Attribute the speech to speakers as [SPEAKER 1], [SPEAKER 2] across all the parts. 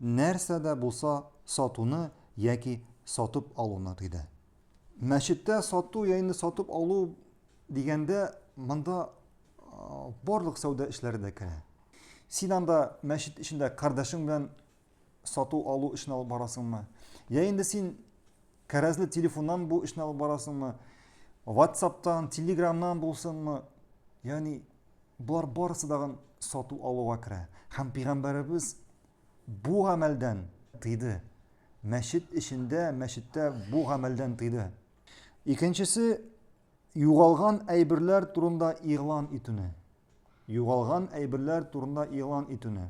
[SPEAKER 1] нәрсә дә булса сатуны яки сатып алуны тыйды. Мәчеттә сату яйны сатып алу дигәндә, монда барлык сәүдә эшләре дә керә. Син анда мәчет эчендә кардәшең белән сату-алу эшен алып барасыңмы? Я инде син кәрәзле телефоннан бу эшне алып барасыңмы? WhatsApp-тан, Telegram-нан булсынмы? Ягъни Болар барысы дагын сату алуга керә. Һәм пигамбәребез бу гамәлдән тыйды. Мәчет эчендә, мәчеттә бу гамәлдән тыйды. Икенчесе югалган әйберләр турында игълан итүне. Югалган әйберләр турында игълан итүне.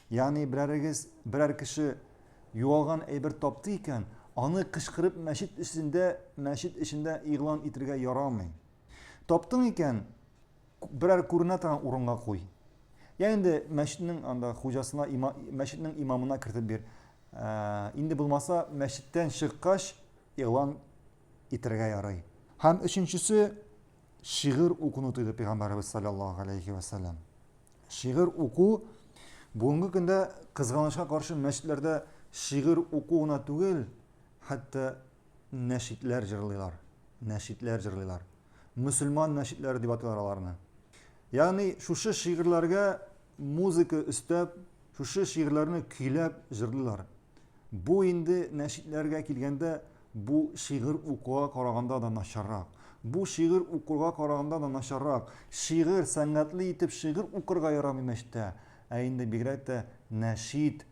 [SPEAKER 1] Ягъни берәрегез, берәр кеше югалган әйбер тапты икән, аны кычкырып мәчет эчендә, мәчет эчендә игълан итергә ярамый. Таптың икән, Берәр күренә торган урынга куй. Я инде мәчетнең анда хуҗасына, има, мәчетнең имамына кертеп бир. Ә, инде булмаса, мәчеттән чыккач игълан итәргә ярый. Һәм өченчесе шигырь укуны тыйды пәйгамбәребез саллаллаһу алейхи ва саллям. Шигырь уку бүгенге көндә кызганычка каршы мәчетләрдә шигырь уку гына түгел, хәтта Нәшидләр җырлыйлар, нәшидләр җырлыйлар. Мөселман нәшидләре дип атыйлар аларны. Ягъни шушы шигырьләргә музыка өстәп, шушы шигырьләрне көйләп җырлыйлар. Бу инде нәшидләргә килгәндә, бу шигырь укуга караганда да начаррак. Бу шигырь укырга караганда да начаррак. Шигырь, сәнгатьле итеп шигырь укырга ярамый мәчеттә, ә инде бигрәк тә нәшид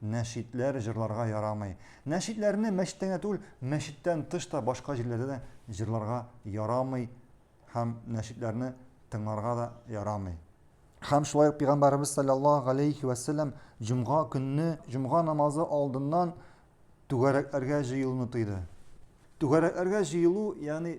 [SPEAKER 1] Нәшидләр җырларга ярамый. Нәшидләрне мәчеттә генә түгел, мәчеттән тыш та башка җирләрдә дә җырларга ярамый һәм нәшидләрне тыңларга да ярамый. Һәм шулай ук Пәйгамбәребез саллаллаһу галәйһи вә сәлләм җомга көнне җомга намазы алдыннан түгәрәкләргә җыелуны тыйды. Түгәрәкләргә җыелу, ягъни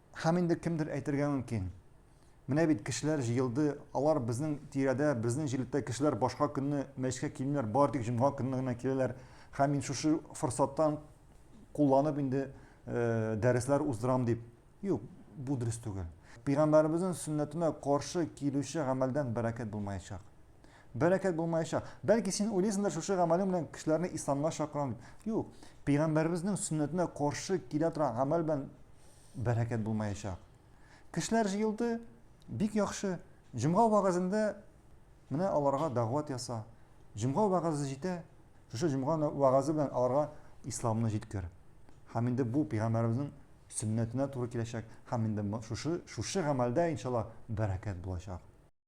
[SPEAKER 1] Һәм инде кемдер әйтергә мөмкин, Менә бит кешеләр җыелды, алар безнең тирәдә, безнең җирлектә кешеләр башка көнне мәчкә килмиләр, бары тик җомга көнне генә киләләр. Һәм мин шушы форсаттан кулланып инде э, дәресләр уздырам дип. Юк, бу дөрес түгел. Пәйгамбәребезнең сөннәтенә каршы килүче гамәлдән бәрәкәт булмаячак. Бәрәкәт булмаячак. Бәлки син уйлыйсыңдыр, шушы гамәлең белән кешеләрне исламга чакырам дип. Юк, пәйгамбәребезнең сөннәтенә каршы килә торган гамәл белән бәрәкәт булмаячак. Кешеләр җыелды, бик яхшы. Җомга вагазында менә аларга дәгъват яса. Җомга вагазы җитә. Шушы җомга вагазы белән аларга исламны җиткер. Һәм инде бу пәйгамбәребезнең сөннәтенә туры киләчәк. Һәм инде шушы шушы гамәлдә иншалла бәрәкәт булачак.